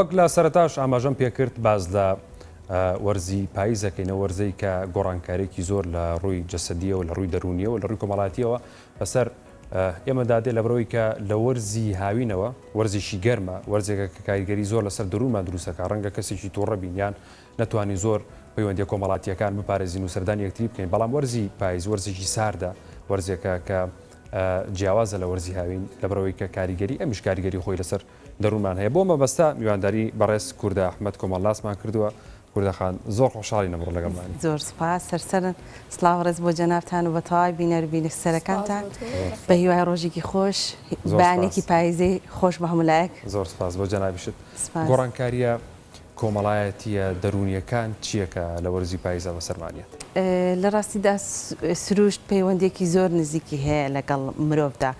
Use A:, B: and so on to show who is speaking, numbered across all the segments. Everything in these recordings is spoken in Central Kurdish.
A: وەک لە سەرەتاش ئاماژەم پێکرد باس لە وەرزی پاییز دەکەین، ئەو وەرزەی کە گۆڕانکاریێکی زۆر لە ڕووی جەسەدیەوە لە ڕووی دەرونیەوە لە ڕووی کۆمەڵاتیەوە بەسەر ئێمە دادێ لە برەوەی کە لە وەرزی هاوینەوە وەرزیشی گەرمە وەرزێکە کە کاریگەری زۆر لەسەر درومان دروستەکە ڕەنگە کەسێکی تووڕە بینیان نەتوانین زۆر پەیوەندی کۆمەڵاتیەکان بپارێزین و سەردان یەکتری بکەین بەڵام وەرزی پایز وەرزێکی ساردە وەرزێکە کە جیاوازە لە وەرزی هاوین لە برەوەی کە کاریگەری ئەمیش کاریگەری خۆی لەسەر دەروونمان هەیە بۆ مەبەستە میوانداری بەڕێز کوردە ئەحمەد کۆمەڵناسمان کردووە کوردە خان زۆر خۆشحاڵین ئەمڕۆ لەگەڵمانی. زۆر سوپاس سەرسەرن
B: سڵاو و ڕێز بۆ جەنابتان و بە تەواوی بینەر و بینسەرەکانتان بە هیوای ڕۆژێکی خۆش بەیانێکی پایزەی خۆش بە هەموو لایەک. زۆر سوپاس بۆ جەنابیشت
A: گۆڕانکاریە. کۆمەڵایەتییە دەروونییەکان چییە کە لە وەرزی پاییزدا بەسەرمان دێت؟ لە ڕاستیدا
B: سرووشت پەیوەندییەکی زۆر نزیکی هەیە لەگەڵ مرۆڤدا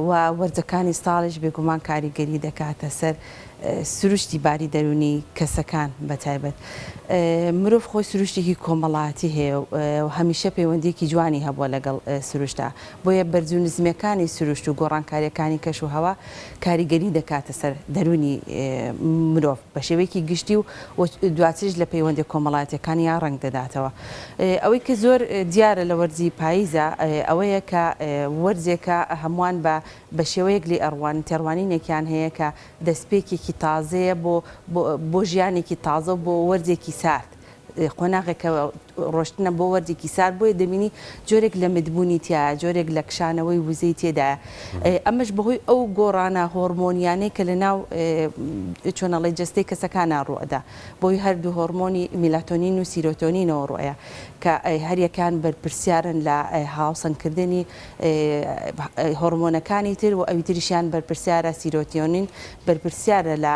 B: و وەرزەکانی ساڵیش بێگومان کاریگەری دەکاتە سەر سرووشتی باری دەروونی کەسەکان بە تایبەت. مرۆڤ خۆی سرووشتێکی کۆمەڵایەتی هەیە و هەمیشە پەیوەندییەکی جوانی هەبووە لەگەڵ سرووشتدا بۆیە بەرز و نزمیەکانی سروشت و گۆڕانکاریەکانی کەش و هەوا کاریگەری دەکاتە سەر دەروونی مرۆڤ بە شێوەیەکی گشتی و دواتریش لە پەیوەندیە کۆمەڵایەتیەکانیا ڕەنگ دەداتەوە ئەوەی کە زۆر دیارە لە وەرزی پاییزا ئەوەیە کە وەرزێکە هەمووان بە بە شێوەیەک لێ ئەڕوان تێڕوانینێکیان هەیە کە دەستپێکێکی تازەیە بۆ بۆ ژیانێکی تازە و بۆ وەرزێکی سارد قۆناغێک کە ڕۆشتنە بۆ وەرزێکی سارد بۆیە دەبینی جۆرێک لە متبوونی تیایە جۆرێک لە کشانەوەی وزەی تێدایە ئەمەش بەهۆی ئەو گۆڕانە هۆڕمۆنیانەی کە لە ناو چۆنەڵی جەستەی کەسەکانە ڕوئەدا بۆی هەردوو هۆڕمۆنی میلاتۆنین و سیرۆتۆنینەوە ڕۆیە کە هەریەکان بەرپرسیارن لە هاوسەنگکردنی هۆڕمۆنەکانی تر و ئەوی تریشیان بەرپرسیارە سیرۆتیۆنین بەرپرسیارە لە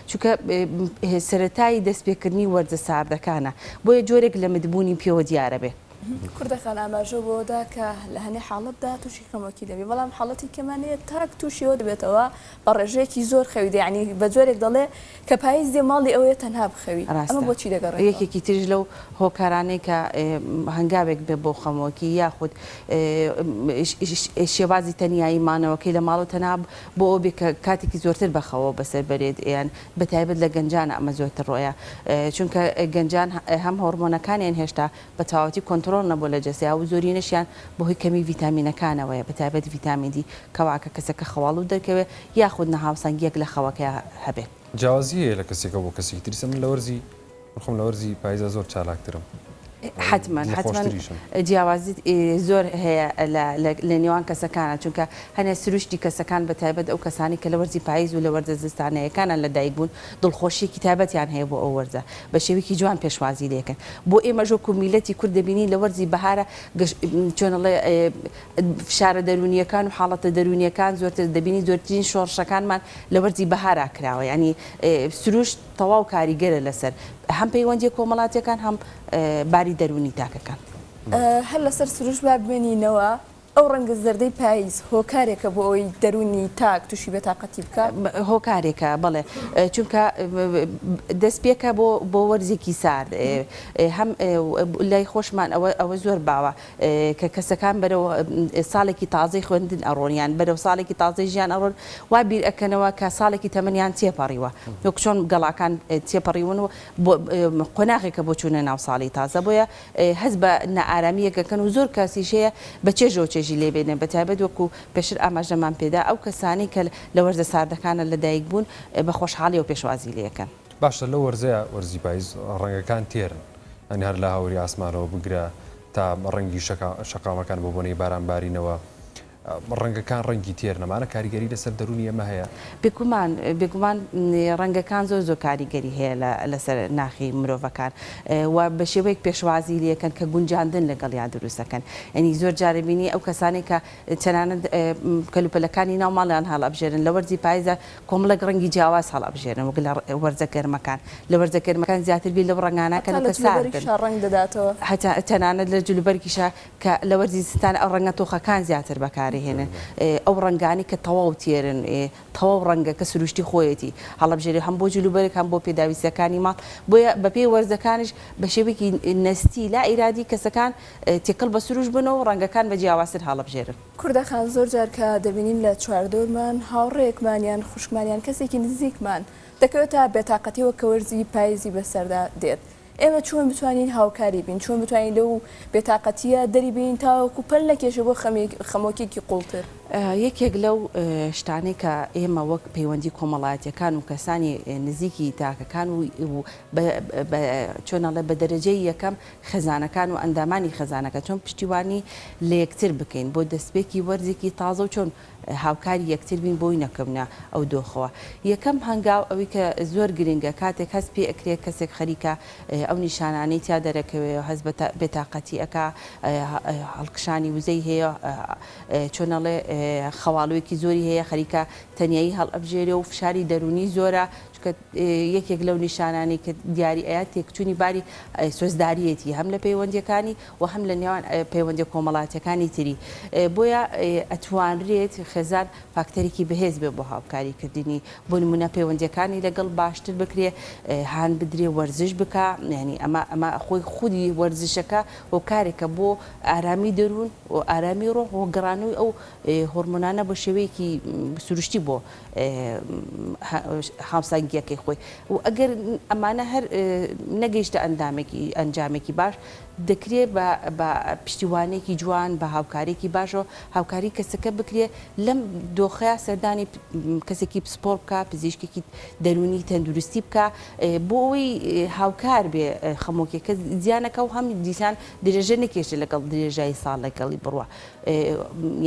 B: چونکە سەرەتای دەست پێکردنی وەرزە ساردەکانە بۆیە جۆرێک لە مت بوونی پێوە دیارە بێ. کوردەکان ئاماژە
C: بەوە دا کە لە هەنێ حاڵەتدا تووشی خەمۆکی دەبێ بەڵام حاڵەتی کە مان هەیە تاک تووشی ئەوە دەبێتەوە بە ڕێژەیەکی زۆر خەوی دێ یانی بە جۆرێک دەڵێ کە پایز دێ ماڵی ئەوەیە تەنها بخەوی ئەمە بۆ چی دەگەڕێتەوە؟ ڕاستە یەکێکی تریش لەو
B: هۆکارانەی کە هەنگاوێک بێ بۆ خەمۆکی یاخود شێوازی تەنیایی مانەوەکەی لە ماڵ و تەنها بۆ ئەوەبێت کە کاتێکی زۆرتر بەخەوەوە بەسەر بەرێت یان بەتایبەت لە گەنجانا ئەمە زۆرتر ڕۆیە چونکە گەنجان هەم هۆڕمۆنەکانیان هێشتا بەتەواوەتی کۆنتڕۆڵ نەبووە لە جەستەیا و زۆرینەشیان بەهۆی کەمی ڤیتامینەکانەوەیە بەتایبەت ڤیتامین دی کەواتە کەسەکە خەواڵوو دەرکەوێت یاخود ناهاوسەنگیەک لە خەوەکەیا هەبێت. جیاوازی هەیە لە
A: کەسێکە بۆ کەسێکی تر ئیستا من لە وەرزی. من خۆم لە وەرزی پایزدا زۆر چالاکترم حەتمەن
B: حەتمەن جیاوازیت زۆر هەیە لە نێوان کەسەکانە چونکە هەنێ سروشتی کەسەکان بە تایبەت ئەو کەسانی کە لە وەرزی پاییز و لە وەرزە زستانەیەکانە لە دایک بوون دڵخۆشیەکی تایبەتیان هەیە بۆ ئەو وەرزە بە شێوەیەکی جوان پێشوازی لێکن بۆ ئێمەش وەکو میلەتی کورد دەبینین لە وەرزی بەهارە چۆنڵێ فشارە دەرونیەکان و حاڵەتە دەرونیەکان زۆرتر دەبینی زۆرترین شۆڕشەکانمان لە وەرزی بەهارا کراوە ینی سروشت تەواو کاریگەرە لەسەر هەم پەیوەندیە کۆمەڵاتیەکان هەم باری دەروونی تاکەکان. هەر
C: لەسەر سروشت با بمێنینەوە، ئەو ڕەنگە زەردەی پایز هۆکارێکە بۆ ئەوەی دەروونی تاک تووشی بێ تاقەتی بکا؟ هۆکارێکە
B: بەڵێ، چونکە دەستپێکە بۆ بۆ وەرزێکی سارد هەم لای خۆشمان ئەوە ئەوە زۆر باوە، کە کەسەکان بەرەو ساڵێکی تازەی خوێندن ئەڕۆن یان بەرەو ساڵێکی تازەی ژیان ئەڕۆن وا بیر ئەکەنەوە کە ساڵێکی تەمەنیان تێپەڕیوە وەک چۆن گەڵاکان تێپەڕیون و قۆناغێکە بۆ چوونە ناو ساڵی تازە بۆیە هەست بە نائارامییەک ئەکەن و زۆر کەسیش هەیە بە چێژەوە چێژی لێ بێنێ بە تایبەت وەکوو پێشتر ئاماژەمان پێدا ئەو کەسانەی کە لە وەرزە ساردەکانە لەدایک بوون بە خۆشحاڵییەوە پێشوازی لێ ئەکەن. باشە لەو وەرزەیا
A: وەرزی پایز ڕەنگەکان تێرن یانی هەر لە هاوری ئاسمانەوە بگرە تا ڕەنگی شەقامەکان بۆ بۆنەی باران بارینەوە ڕەنگەکان ڕەنگی تێر نەمانە کاریگەری لەسەر دەرونی ئەمە هەیە بێگومان بێگومان
B: ڕەنگەکان زۆر زۆر کاریگەری هەیە لەسەر ناخی مرۆڤەکان و بە شێوەیەک پێشوازی لەکەن کە گونجاندن لەگەڵیان دروستەکەن یعنی زۆر جارە بینی ئەو کەسانێک کە تەنانەت کەلوپەلەکانی ناو ماڵیان هەڵ ئەبژێرن لە وەرزی پایزە کۆمەڵێک ڕەنگی جیاواز هەڵئەبژێرن وەک لە وەرزە گەرمەکان، لە وەرزە گەرمەکان زیاتر بیر لەو ڕەنگانە ئەکەن و کە سارد بن،
C: هەتا تەنانەت
B: لە جلوبەرگیشا کە لە وەرزی زستان ئەو ڕەنگە تۆخەکان زیاتر بەکارئەهێنن، ئەو ڕەنگانەی کە تەواو تێرن، تەواو ڕەنگەکە سروشتی خۆیەتی هەڵئەبژێرێ هەم بۆ جلوبەرگ هەم بۆ پێداویستییەکانی ماڵ، بۆیە بەپێی وەرزەکانیش بە شێوەیەکی نەستی لا ئیرادی کەسەکان تێکەڵ بە سروشت بن و ڕەنگەکان بە جیاوازتر هەڵئەبژێرن. کوردەکان زۆر جار
C: کە دەبینین لە چواردەورمان هاوڕێیەکمان یان خوشکمان یان کەسێکی نزیکمان دەکەوێتە بێتاقەتیەوە کە وەرزی پایزی بەسەردا دێت ئێمە چۆن بتوانین هاوکاری بین چۆن بتوانین لەو بێتاقەتیە دەری بین تاوەکو پەل نەکێشێ بۆ خەمۆکێکی قوڵتر. یەکێک لەو
B: شتانەی کە ئێمە وەک پەیوەندی کۆمەڵایەتیەکان و کەسانی نزیکی تاکەکان و بە چۆن ئەڵێ بە دەرەجەی یەکەم خێزانەکان و ئەندامانی خێزانەکە چۆن پشتیوانی لە یەکتر بکەین بۆ دەستپێکی وەرزێکی تازە و چۆن هاوکاری یەکتر بین بۆی نەکەونە ئەو دۆخەوە یەکەم هەنگاو ئەوی کە زۆر گرنگە کاتێک هەست پێ ئەکرێ کەسێک خەریکە ئەو نیشانانەی تیا دەرەکەوێ و هەست بە بێتاقەتی ئەکا هەڵکشانی وزەی هەیە چۆن ئەڵێ خەواڵوێکی زۆری هەیە خەریکە تەنیایی هەڵئەبژێرێ و فشاری دەروونی زۆرە چونکە یەکێک لەو نیشانانەی کە دیاری ئەیات تێکچوونی باری سۆزداریەتی هەم لە پەیوەندیەکانی و هەم لە نێوان پەیوەندی کۆمەڵاتەکانی تری بۆیە ئەتوانرێت خێزان فاکتەرێکی بەهێز بێ بۆ هاوکاری کردنی بۆ نمونە پەیوەندیەکانی لەگەڵ باشتر بکرێ هاان بدرێ وەرزش بک ینی ئەمە ئەمە خۆی خودی وەرزشەکە و کارێکە بۆ ئارامی دەروون و ئارامی ڕۆح و گەڕانەوەی ئەو هۆرمۆنانە بە شێوەیەکی سروشتی بۆ هاوسەنگییەکەی خۆی و ئەگەر ئەمانە هەر نەگەیشتە ئەندامێکی ئەنجامێکی باش دەکرێت بە پشتیوانێکی جوان بە هاوکاریکی باشەوە هاوکاری کەسەکە بکرێت لەم دۆخەیە سەردانی کەسێکی پسپۆر بکە پزیشکێکی دەروونی تەندروستی بکە بۆ ئەوی هاوکار بێ خەمۆکیەکە زیانەکە و هەم دیسان درێژە نەکێشە لەگەڵ درێژایی ساڵ لەگەڵی بڕوە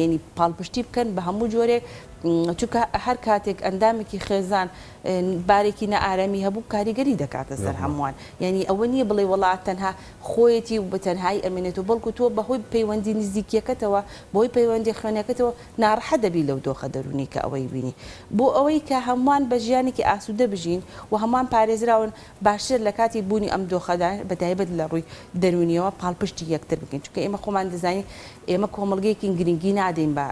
B: یعنی پاڵپشتی بکەن بە هەموو جۆرێک چونکە هەر کاتێک ئەندامێکی خێزان بارێکی نائارەمی هەبوو کاریگەری دەکاتە سەر هەمووان یعنی ئەوە نییە بڵێ وڵات تەنها خۆیەتی و بەتەنهایی ئەمێنێت و بەڵکو تۆ بەهۆی پەیوەندی نزیکیەکەتەوە بەهۆی پەیوەندی خوێنەکەتەوە ناڕەحەت دەبی لەو دۆخە دەروونی کە ئەوەی بینی بۆ ئەوەی کە هەمووان بە ژیانێکی ئاسوودە بژین و هەمووان پارێزراون باشترە لە کاتی بوونی ئەم دۆخەدا بە تایبەت لە ڕووی دەروونییەوە پاڵپشتی یەکتر بکەین، چونکە ئێمە خۆمان دەزانین ئێمە کۆمەڵگەیەکین گرنگی نادەین بە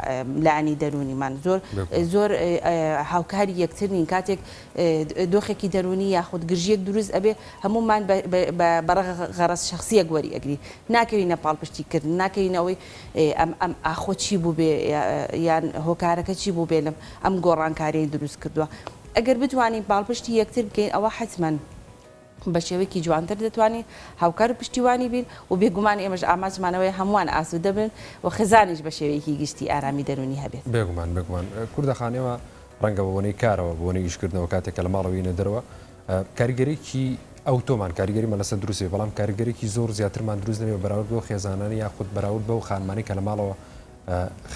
B: لایەنی دەروونیمان، زۆر زۆر هاوکاری یەکتر نین، کاتێک دۆخێکی دەروونی یاخود گرژییەک دروست ئەبێ هەموومان بە غەرەز شەخسییەک وەری ئەگرین، ناکەوینە پاڵپشتی کردن، ناکەوینە ئەوەی ئەم ئەم ئاخۆ چی بووبێ یان هۆکارەکە چی بووبێ ئەم گۆڕانکارییەی دروست کردووە. ئەگەر بتوانین پاڵپشتی یەکتر بکەین ئەوا حەتمەن بە شێوەیەکی جوانتر دەتوانین هاوکار و پشتیوانی بین و بێگومان ئێمەش ئامانجمان ئەوەیە هەمووان ئاسوودە بن و خێزانیش بە شێوەیەکی گشتی ئارامی دەروونی هەبێت. بێگومان بێگومان.
A: کوردە خان ئێمە ڕەنگە بە بۆنەی کارەوە بە بۆنەی ئیشکردنەوە کاتێک کە لە ماڵەوە یینە دەرەوە کاریگەریی ئەوتۆمان کاریگەریمان لەسەر دروست بێت بەڵام کاریگەریی زۆر زیاترمان دروست نەبێت بەراورد بەو خێزانانی یاخود بەراورد بەو خانمانەی کە لە ماڵەوە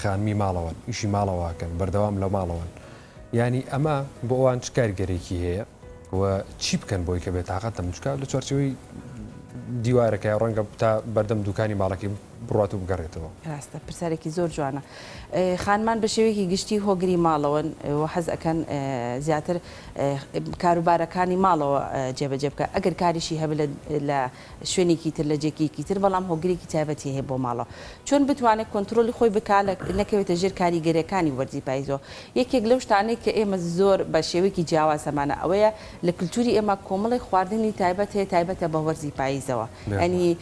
A: خانمی ماڵەوەن ئیشی ماڵەوە ئەکەن بەردەوام لە ماڵەوەن یانی ئەمە بۆ ئەوان چ کاریگەرێکی هەیە و چی بکەن بۆی کە بێت تااقەت دەم بچکە لە چارچەوەی دیوارەکە یا ڕەنگە تا بەردەم دوکانی ماڵەکەی بڕات و بگەڕێتەوە ڕاستە پرسیارێکی
B: زۆر جوانە خانمان بە شێوەیەکی گشتی هۆگری ماڵەوەن و حەز ئەەکەن زیاتر کاروبارەکانی ماڵەوە جێبەجێ بکە ئەگەر کاریشی هەب لە شوێنێکی تر لە جێکیەکی تر بەڵام هۆگرێکی تایبەتی هەیە بۆ ماڵەوە چۆن بتوانێت کۆنترۆلی خۆی بکا لە نەکەوێتە ژێر کاریگەریەکانی وەرزی پایزەوە یەکێک لەو شتانەی کە ئێمە زۆر بە شێوەیەکی جیاواز هەمانە ئەوەیە لە کلتوری ئێمە کۆمەڵێک خواردنی تایبەت هەیە تایبەتە بە وەرزی پایزەوە یانی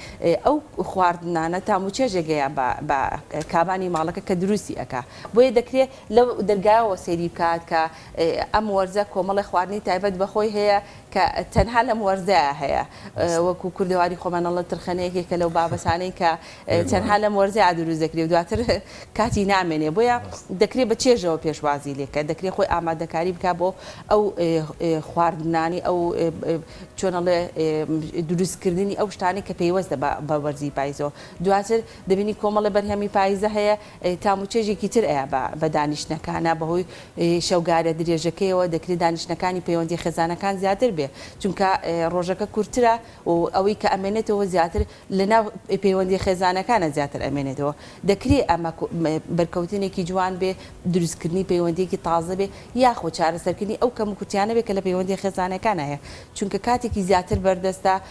B: ئەو خواردنانە تام و چێژێگەیە بە کابانی ماڵەکە کە دروستی ئەکا بۆیە دەکرێت لەو دەرگایەوە سەیری بکات کە ئەم وەرزە کۆمەڵێک خواردنی تایبەت بەخۆی هەیە کە تەنها لەم وەرزەیا هەیە وەکو کوردەواری خۆمان ئەڵێن ترخەنە یەکێکە لەو بابەتانەی کە تەنها لەم وەرزەیا دروست دەکرێ و دواتر کاتی نامێنێ بۆیە دەکرێ بە چێژەوە پێشوازی لێکە دەکرێ خۆی ئامادەکاری بکا بۆ ئەو خواردنانی ئەو چۆن ئەڵێ دروستکردنی ئەو شتانەی کە پەیوەستە بە وەرزی پایزەوە دواتر دەبینی کۆمەڵێ بەرهەمی پایزە هەیە تام و چێژێکی تر ئەیا بە دانیشتنەکانا، بەهۆی شەوگارە درێژەکەیەوە دەکرێ دانیشتنەکانی پەیوەندیە خێزانەکان زیاتر بێ، چونکە ڕۆژەکە کورتترە و ئەوەی کە ئەمێنێتەوە زیاتر لەناو پەیوەندیە خێزانەکانا زیاتر ئەمێنێتەوە، دەکرێ ئەمە بەرکەوتنێکی جوان بێ، دروستکردنی پەیوەندیەکی تازە بێ، یاخۆ چارەسەرکردنی ئەو کەموکورتیانە بێ کە لە پەیوەندیە خێزانەکانا هەیە، چونکە کاتێکی زیاتر بەردەستە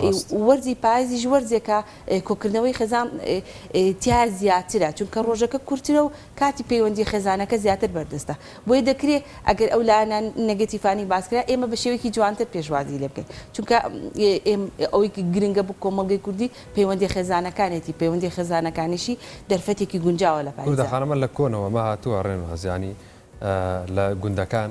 B: ڕاست. وەرزی پایزیش وەرزێکە کۆکردنەوەی خێزان تیایا زیاترە چونکە ڕۆژەکە کورترە و کاتی پەیوەندی خێزانەکە زیاتر بەردەستە بۆیە دەکرێ ئەگەر ئەو لایەنە نەگەتیفانەی باسکرا ئێمە بە شێوەیەکی جوانتر پێشوازی لێ بکەین چونکە ئەوەی گرنگە بۆ کۆمەڵگەی کوردی پەیوەندی خێزانەکانێتی پەیوەندی خێزانەکانیشی دەرفەتێکی گونجاوە لە پایزدا. کوردە خانمە لە کۆنەوە مە
A: هاتووە ڕێنواز یانی لە گوندەکان،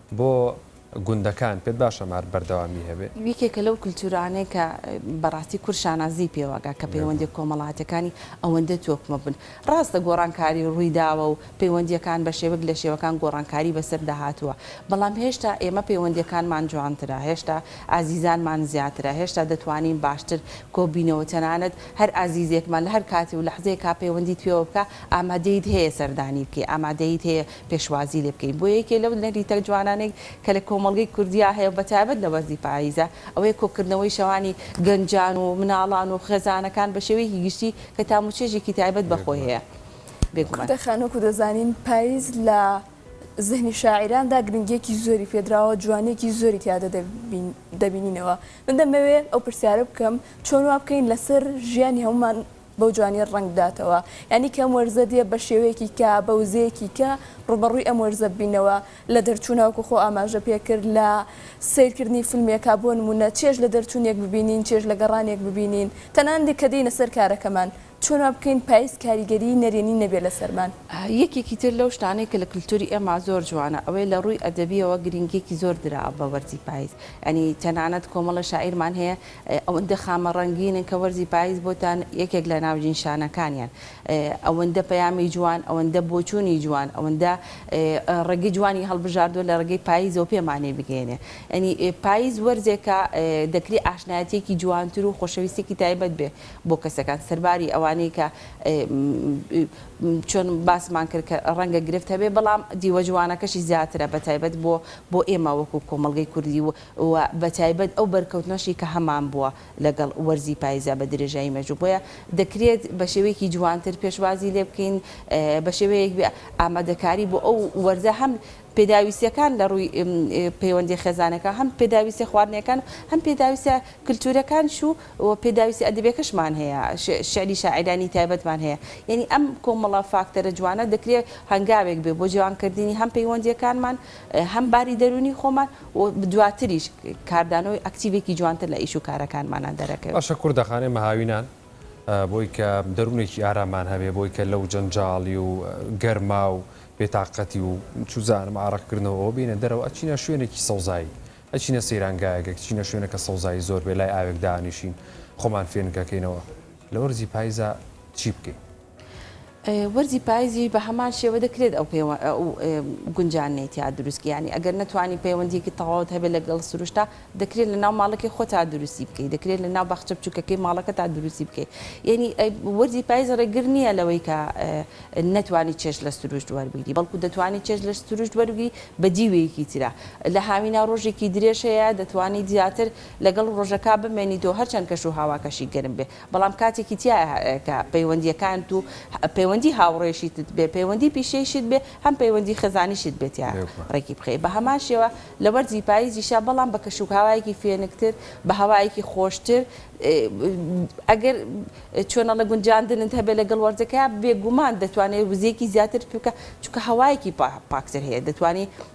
A: بۆ گوندەکان پێت باشە مار بەردەوامی هەبێ؟ یەکێکە لەو کلتورانەی
B: کە بەڕاستی کورد شانازی پێوە ئەکا کە پەیوەندیە کۆمەڵاتیەکانی ئەوەندە تۆکمە بن. ڕاستە گۆڕانکاری ڕویداوە و پەیوەندیەکان بە شێوەک لە شێوەکان گۆڕانکاری بەسەردا هاتوە بەڵام هێشتا ئێمە پەیوەندیەکانمان جوانترە هێشتا ئازیزانمان زیاترە هێشتا دەتوانین باشتر کۆبینەوە تەنانەت هەر ئازیزێکمان لە هەر کاتی و لەحزەیەکا پەیوەندیت پێوە بکا ئامادەیت هەیە سەردانی بکەی ئامادەیت هەیە پێشوازی لێ بکەین بۆیە یەکێ لەو نەریتە جوانانەی کە لە کۆمەڵگەی کوردیا هەیە و بە تایبەت لە وەرزی پاییزە ئەوەیە کۆکردنەوەی شەوانی گەنجان و مناڵان و خێزانەکان بە شێوەیەکی گشتی کە تام و چێژێکی تایبەت بە خۆی هەیە بێگومان. کورتە
C: خانوو کە دەزانین پاییز لە زهنی شاعیراندا گرنگیەکی زۆری پێدراوە جوانیەکی زۆری تیادا دەبینینەوە من دەمەوێ ئەو پرسیارە بکەم چۆن وا بکەین لەسەر ژیانی هەموومان بەو جوانیە ڕەنگ بداتەوە یانی کە ئەم وەرزە دێ بە شێوەیەکی کە بە وزەیەکی کە ڕووبەڕووی ئەم وەرزە ببینەوە لە دەرچوونا وەکو خۆ ئاماژە پێ کرد لە سەیر کردنی فیلمێکا بۆ نموونە چێژ لە دەرچوونێک ببینین چێژ لە گەڕانێک ببینین تەنان دێ کە دێینە سەر کارەکەمان چۆن وا بکەین پایز کاریگەریی نەرێنی نەبێ لە سەرمان. یەکێکی تر لەو
B: شتانەی کە لە کلتووری ئێمە زۆر جوانە ئەوەیە لە ڕووی ئەدەبیەوە گرینگیەکی زۆر درا بە وەرزی پایز یانی تەنانەت کۆمەڵە شاعیرمان هەیە ئەوەندە خامە ڕەنگینن کە وەرزی پایز بۆتان یەکێک لە ناوجین شانەکانیان ئەوەندە پەیامی جوان ئەوەندە بۆچوونی جوان ئەوەندە ڕێگەی جوانی هەڵبژاردووە لە ڕێگەی پایزەوە پێمانی بگەیەنێ یانی پایز وەرزێکە دەکری ئاشنایەتیەکی جوانتر و خۆشەویستێکی تایبەت بێ بۆ کەسەکان سەرباری ئەوانەی کە چۆن باسمان کرد کە ڕەنگە گرفت هەبێ بەڵام دیوە جوانەکەشی زیاترە بە تایبەت بۆ بۆ ئێمە وەکو کۆمەڵگەی کوردی و و بە تایبەت ئەو بەرکەوتنەشی کە هەمان بووە لەگەڵ وەرزی پاییزدا بە درێژایی مێژوو، بۆیە دەکرێت بە شێوەیەکی جوانتر پێشوازی لێ بکەین، بە شێوەیەک ئامادەکاری بۆ ئەو وەرزە هەم پێداویستییەکان لە ڕووی پەیوەندییە خێزانەکە، هەم پێداویستییە خواردنەکان و هەم پێداویستییە کلتوورەکانیش و پێداویستییە ئەدەبییەکەشمان هەیە، شیعری شاعیرانی تایبەتمان هەیە، یانی ئەم کۆمەڵە فاکتەرە جوانە دەکرێت هەنگاوێک بێت بۆ جوانکردنی هەم پەیوەندییەکانمان، هەم باری دەروونی خۆمان. و دواتریش کاردانەوە و ئەکتیڤێکی جوانتر لە ئیش و کارەکانمانا دەرەکەوێ. باشە کوردەخانەی
A: مەهاوینان بۆی کە دەروونێکی ئاراممان هەبێ بۆی کە لەو جەنجاڵی و گەرما و بێتاقەتی و چوزانم ئارەق کردنەوەوە بێینە دەرەوە ئەچینە شوێنێکی سەوزایی ئەچینە سەیرانگایەک ئەچینە شوێنەکە سەوزایی زۆر بێ لای ئاوێک دانیشین خۆمان فێنکەکەینەوە لە وەرزی پایزا چی بکەین؟
B: وەرزی پایزیش بە هەمان شێوە دەکرێت ئەو گونجانەی تیا دروست بکەیت، یانی ئەگەر نەتوانی پەیوەندییەکی تەواوت هەبێت لەگەڵ سروشتا، دەکرێت لەناو ماڵەکەی خۆتا دروستی بکەیت، دەکرێت لەناو باخچە بچووکەکەی ماڵەکەتا دروستی بکەیت. یانی وەرزی پایز ڕێگر نییە لەوەی کە نەتوانی چێژ لە سروشت وەربگری، بەڵکو دەتوانی چێژ لە سروشت وەربگری بە دیوێکی ترا. لە هاوینا ڕۆژێکی درێژ هەیە، دەتوانیت زیاتر لەگەڵ ڕۆژەکە بمێنیتەوە هەرچەند کەشوهاواکەشی گەرم بێت. بەڵام کاتێکی تیایە کە پەیوەندییەکانت و پەیوەندی هاوڕێیشیتت بێ، پەیوەندی پیشەیشت بێ، هەم پەیوەندی خێزانیشت بێ تیا ڕێکی بخەی. بە هەمان شێوە لە وەرزی پاییزیشا بەڵام بە کەشوهەوایەکی فێنکتر، بە هەوایەکی خۆشتر، ئەگەر چۆنەڵێ گونجاندنت هەبێ لەگەڵ وەرزەکەیا، بێگومان دەتوانێ وزەیەکی زیاترت پێ بکا، چونکە هەوایەکی پاکتر هەیە، دەتوانی.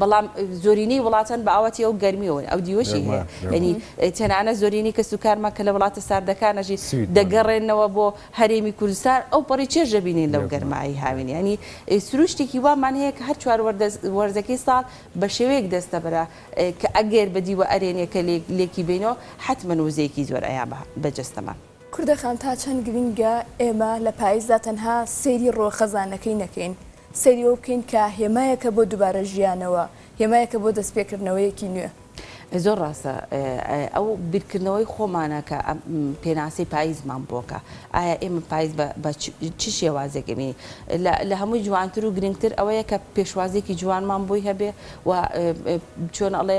B: بەڵام زۆرینەی وڵاتان بە ئاواتی ئەو گەرمیەوەن ئەو دیوەشی هەیە یەنی تەنانە زۆرینەی کەس و کارمان کە لە وڵاتە ساردەکانەژی دەگەڕێنەوە بۆ هەرێمی کوردستان ئەو پەڕی چێژ دەبینین لەو گەرمایی هاوین یانی سروشتێکی وامان هەیە کە هەر چوار وەرزەکەی ساڵ بە شێوەیەک دەستەبەرە کە ئەگەر بە دیوە ئەرێنیەکە لێکی بینەوە حەتمەن وزەیەکی زۆر ئەیابا بە جەستەمان. کوردە خان تا
C: چەند گرنگە ئێمە لە پایزدا تەنها سەیری ڕووە خەزانەکەی نەکەین، سەیری ئەوە بکەین کە هێمایەکە بۆ دوبارە ژیانەوە، هێمایەکە بۆ دەست پێکردنەوەیەکی نوێ. زۆر ڕاستە
B: ئەو بیرکردنەوەی خۆمانە کە ئەم پێناسەی پایزمان بۆ کە، ئایا ئێمە پایز بە چ شێوازێک ئەبینین؟ لە هەمووی جوانتر و گرنگتر ئەوەیە کە پێشوازیەکی جوانمان بۆی هەبێ و چۆن ئەڵێ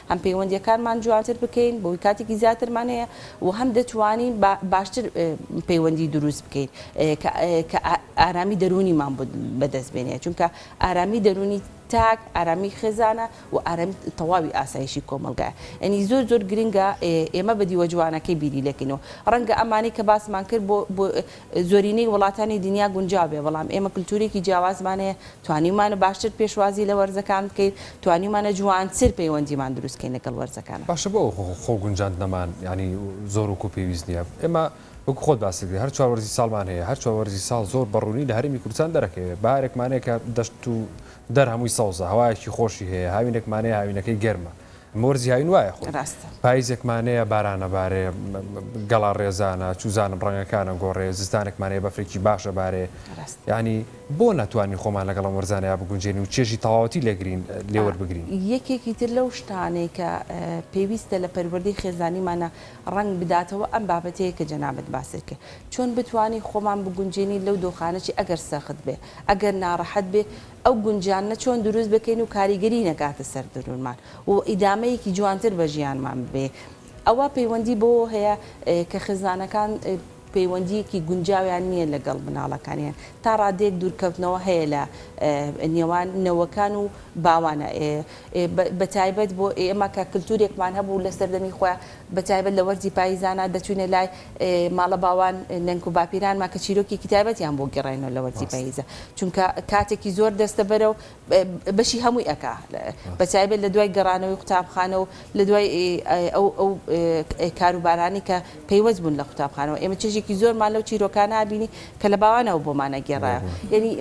B: هەم پەیوەندییەکانمان جوانتر بکەین بەوەی کاتێکی زیاترمان هەیە و هەم دەتوانین بە باشتر پەیوەندی دروست بکەین کە کە ئارامی دەروونیمان بەدەست بێنێ چونکە ئارامی دەروونی تاک ئارامی خێزانە و ئارامی تەواوی ئاسایشی کۆمەڵگایە ئەنی زۆر زۆر گرنگە ئێمە بە دیوە جوانەکەی بیری لێکەینەوە ڕەنگە ئەمانەی کە باسمان کرد بۆ زۆرینەی وڵاتانی دنیا گونجاو بێ بەڵام ئێمە کلتورێکی جیاوازمان هەیە توانیومانە باشتر پێشوازی لە وەرزەکان بکەین توانیومانە جوانتر پەیوەندیمان دروست کەین لەگەڵ وەرزەکان. باشە بۆ ئەو خۆ
A: گونجاندنەمان یانی زۆر وەکو پێویست نیە ئێمە وەکو خۆت باست کرد هەر چوار وەرزی ساڵمان هەیە هەر چوار وەرزی ساڵ زۆر بە ڕوونی لە هەرێمی کوردستان دەرەکەوێ بارێکمان هەیە کە دەشت و دەر هەمووی سەوزە هەوایەکی خۆشی هەیە هاوینێکمان هەیە هاوینەکەی گەرمە مۆرزی هاوین وایە خۆی پایزێکمانەیە بارانەبارێ گەڵا ڕێزانە چوزانم ڕەنگەکانە گۆڕێ زستانێکمانەیە بەفرێکی باشە بارێ ینی بۆ ناتوانین خۆمان لەگەڵ مەرزانەیە بگونجێن و چێژی تەواوەتی لێگرین لێوەربگرین یەکێکی تر لەو
B: شتانەی کە پێویستە لە پەروەردەی خێزانیمانە ڕەنگ بداتەوە ئەم بابەتەیە کە جەنابت باست کرد چۆن بتوانین خۆمان بگونجێنین لەو دۆخانەی ئەگەر سەخت بێ ئەگەر ناڕەحەت بێ ئەو گونجانە چۆن دروست بکەین و کاریگەری نەکاتە سەر درونمان و ئیدامەیەکی جوانتر بە ژیانمان ببەین ئەوە پەیوەندی بەوەوە هەیە کە خێزانەکان پەیوەندیەکی گونجاویان نیە لەگەڵ مناڵەکانیان تا ڕادەیەک دوورکەوتنەوە هەیە لە نێوان نەوەکان و باوان بە تایبەت بۆ ئێمە کە کلتورێکمان هەبوو لە سەردەمی خۆیان بە تایبەت لە وەرزی پایزانا دەچوینە لای ماڵە باوان نەنک و باپیرانمان کە چیرۆکێکی تایبەتیان بۆ گێڕاینەوە لە وەرزی ڕاستە. پاییزە چونکە کاتێکی زۆر دەستەبەرە و بەشی هەمووی ئەکا بە ڕاستە. تایبەت لە دوای گەڕانەوەی قوتابخانە و لە دوای ئەو ئەو کار و بارانەی کە پەیوەست بوون لە قوتابخانەوە ئێمە چێژێکی زۆرمان لەو چیرۆکانە ئابینی کە لە باوانەوە بۆمان ئەگێڕا بەڕای. یەنی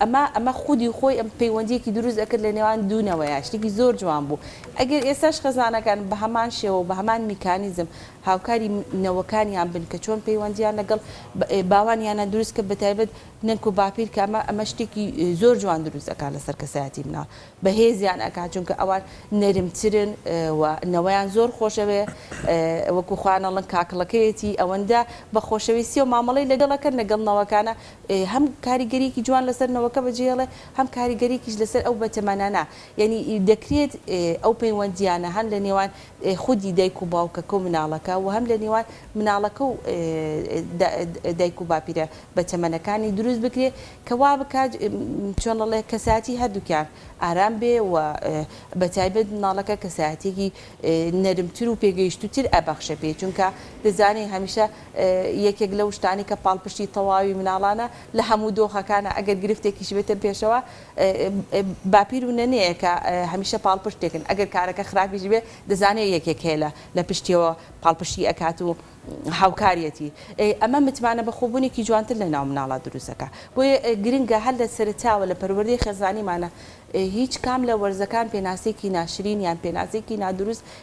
B: ئەمە ئەمە خودی خۆی ئەم پەیوەندییەکی دروست ئەکرد لە نێوان دوو نەوەیە شتێکی زۆر جوان بوو ئەگەر ئێستاش خێزانەکان بە هەمان شێوە و بە هەمان میکانیزم هاوکاری نەوەکانیان بن کە چۆن پەیوەندیان لەگەڵ باوانیانە دروست کە بەتایبەت نەنک و باپیر کە ئەمە ئەمە شتێکی زۆر جوان دروست ئەکات لەسەر کەسایەتی مناڵ بەهێزیان ئەکات چونکە ئەوان نەرمترن و نەوەیان زۆر خۆشەوێ وەکو خۆیان ئەڵن کاکڵەکەیەتی ئەوەندە بەخۆشەویستی و مامەڵەی لەگەڵ ئەکەن لەگەڵ نەوەکانە هەم کاریگەریەکی جوان لەسەر نەوەکە بەجێ ئەڵێ هەم کاریگەریەکیش لەسەر ئەو بەتەمەنانە یەنی دەکرێت ئەو پەیوەندیانە هەن لەنێوان خودی دایک و باوکەکە و مناڵەکە وە هەم لە نێوان مناڵەکە و دایک و باپیرە بەتەمەنەکانی دروست بکرێ کە وا بکات چۆن ئەڵێ کەسایەتی هەردووکیان ئارام بێ و بە تایبەت مناڵەکە کەسایەتیەکی نەرم تر و پێگەیشتوو تر ئەبەخشێ پێی چونکە دەزانین هەمیشە یەکێک لەو شتانەی کە پاڵپشتی تەواوی مناڵانە لە هەموو دۆخەکانە ئەگەر گرفتێکیش بێتە پێشەوە باپیر و نەنەیەکە هەمیشە پاڵپشتێکن ئەگەر کارەکە خراپیش بێ دەزانێ یەکێک هەیە لە لە پشتیەوە پاڵپشتی ئەکات و هاوکاریەتی ئەمە متمانە بەخۆبونێکی جوانتر لە ناو مناڵا دروست ئەکا بۆیە گرنگە هەر لە سەرەتاوە لە پەروەردەی خێزانیمانا هیچ کام لە وەرزەکان پێناسەیەکی ناشرین یان پێناسەیەکی نادروست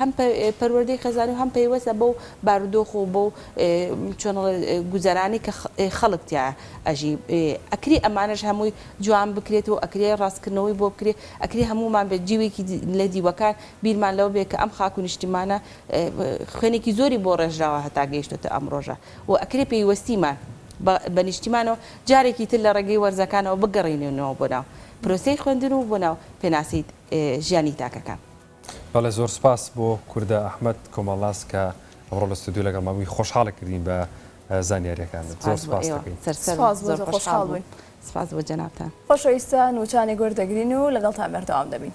B: هەم پەروەردەی خێزانی و هەم پەیوەستە بەو بارودۆخ و بەو چۆن ئەڵێ گوزەرانی کە خەڵک تیا ئەژی ئەکری ئەمانەش هەمووی جوان بکرێت و ئەکرێ ڕاستکردنەوەی بۆ بکرێ ئەکری هەموومان بێت جیوێکی لە دیوەکان بیرمان لەوە بێ کە ئەم خاک و نیشتیمانە خوێنێکی زۆری بۆ ڕێژراوە هەتا گەیشتۆتە ئەم ڕۆژە و ئەکرێ پەیوەستیمان بە نیشتیمانەوە جارێکی تر لە ڕێگەی وەرزەکانەوە بگەڕێنێنەوە بۆ ناو پرۆسەی خوێندن و بۆ ناو پێناسەی ژیانی تاکەکان. بەڵێ زۆر
A: سوپاس بۆ کوردە ئەحمەد کۆمەڵناس کە ئەمڕۆ لە ستۆدیۆ لەگەڵمان بووی خۆشحاڵت کردین بە زانیاریەکانت زۆر سوپاست دەکەین. سوپاس بۆ تۆ
C: خۆشحاڵ
B: بووین.
C: سوپاس بۆ جەنابتان. خۆشەویستان وچانێک وەردەگرین و لەگەڵتان بەردەوام دەبین.